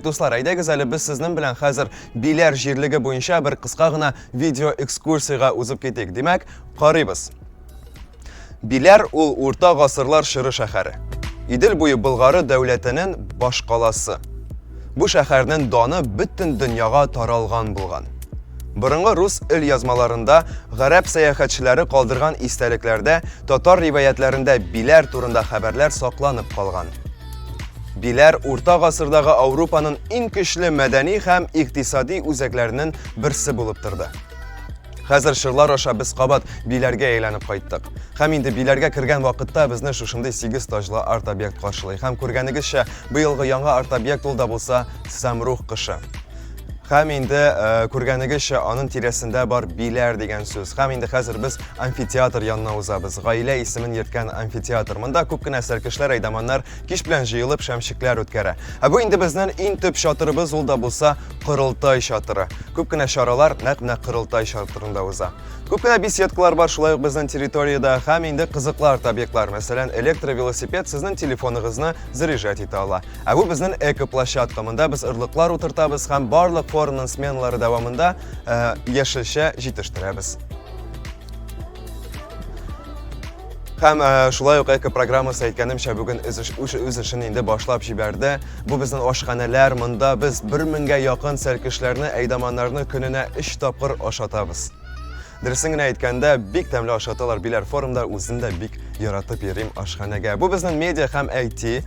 Дуслар, әйдәгез әле без сезнең белән хәзер Биләр җирлеге буенча бер кыска гына видео экскурсиягә узып китик. Димәк, карыйбыз. Биләр ул урта гасырлар чоры шәһәре. Идел буе Болгары дәүләтенең башкаласы. Бу шәһәрнең даны бөтен дөньяга таралган булган. Борынгы рус ил язмаларында, гарәп сәяхәтчеләре калдырган истәлекләрдә, татар риваятләрендә Биләр турында хәбәрләр сакланып калган. Биләр урта гасырдагы Ауропаның иң көчле мәдәни һәм икътисади үзәкләренең берсе булып торды. Хәзер шырлар аша без кабат Биләргә әйләнеп кайттык. Һәм инде Биләргә кергән вакытта безне шушындый сигез таҗлы арт-объект каршылый. Һәм күргәнегезчә, быелгы яңа арт-объект ул да булса Сәмрух кышы. Хәм инде э, күргәнегезчә, аның тирәсендә бар биләр дигән сүз. Хәм инде хәзер без амфитеатр янына узабыз. Гаилә исемен йөрткән амфитеатр. Монда күп кенә сәркешләр, әйдаманнар кич белән җыелып шәмчекләр үткәрә. Ә бу инде безнең иң төп чатырыбыз, ул да булса корылтай чатыры. Күп кенә чаралар нәкъ менә корылтай чатырында уза. Күп кенә беседкалар бар шулай ук безнең территориядә һәм инде кызыклар табиклар, мәсәлән, электровелосипед сезнең телефоныгызны заряжать итә ала. Ә бу безнең экоплощадка. Монда без орлыклар утыртабыз һәм барлык форумның сменалары дәвамында э, яшелчә җитештерәбез. Һәм э, шулай ук эко программасы әйткәнемчә бүген үз эшен инде башлап җибәрде. Бу безнең ашханәләр, монда без 1000 меңгә якын сәркешләрне, әйдаманнарны көненә 3 тапкыр ашатабыз. Дөресен генә әйткәндә, бик тәмле ашаталар Биләр форумда, үзем дә бик яратып йөрим ашханәгә. Бу безнең медиа һәм IT э,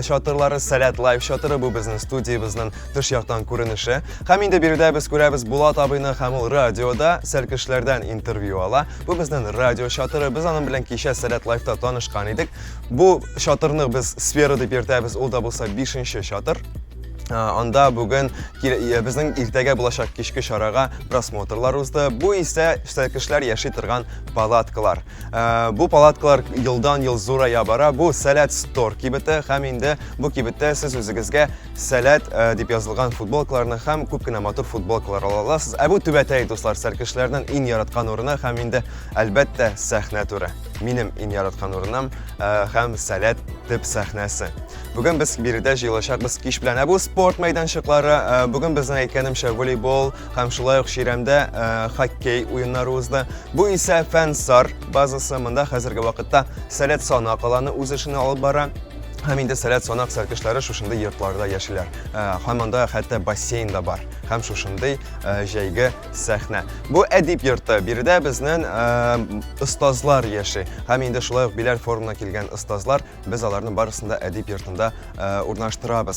чатырлары, Сәләт Лайв чатыры, бу безнең студиябезнең тыш яктан күренеше. Һәм инде биредә без күрәбез Булат абыйны һәм ул радиода сәлкешләрдән интервью ала. Бу безнең радио чатыры, без аның белән кичә Сәләт Лайвта танышкан идек. Бу чатырны без сфера дип йөртәбез, ул да булса 5 чатыр. Анда бүген безнең иртәгә булачак кичке чарага просмотрлар узды. Бу исә сәлкешләр яши торган палаткалар. Бу палаткалар елдан ел зурая бара. Бу Сәләт Стор кибете һәм инде бу кибеттә сез үзегезгә Сәләт дип язылган футболкаларны һәм күп кенә матур футболкалар ала аласыз. Ә бу түбәтәй дуслар сәлкешләрнең иң яраткан урыны һәм инде әлбәттә сәхнә туры. Минем иң яраткан урыным һәм Сәләт төп сәхнәсе. Бүген без биредә җыелачакбыз кич белән. Ә бу спорт мәйданчыклары э, бүген безнең әйткәнемчә волейбол һәм шулай ук чирәмдә э, хоккей уеннары узды. Бу исә Фәнсар базасы. Монда хәзерге вакытта Сәләт санак аланы үз эшен алып бара. Һәм инде сәләт санак сәркешләре шушындый йортларда яшиләр. Э, һәм анда хәтта бассейн да бар. Һәм шушындый җәйге сәхнә. Бу әдип йорты. Биредә безнен остазлар яши. Һәм инде шулай ук Биләр форумына килгән остазлар, без аларны барысын да әдип йортында урнаштырабыз.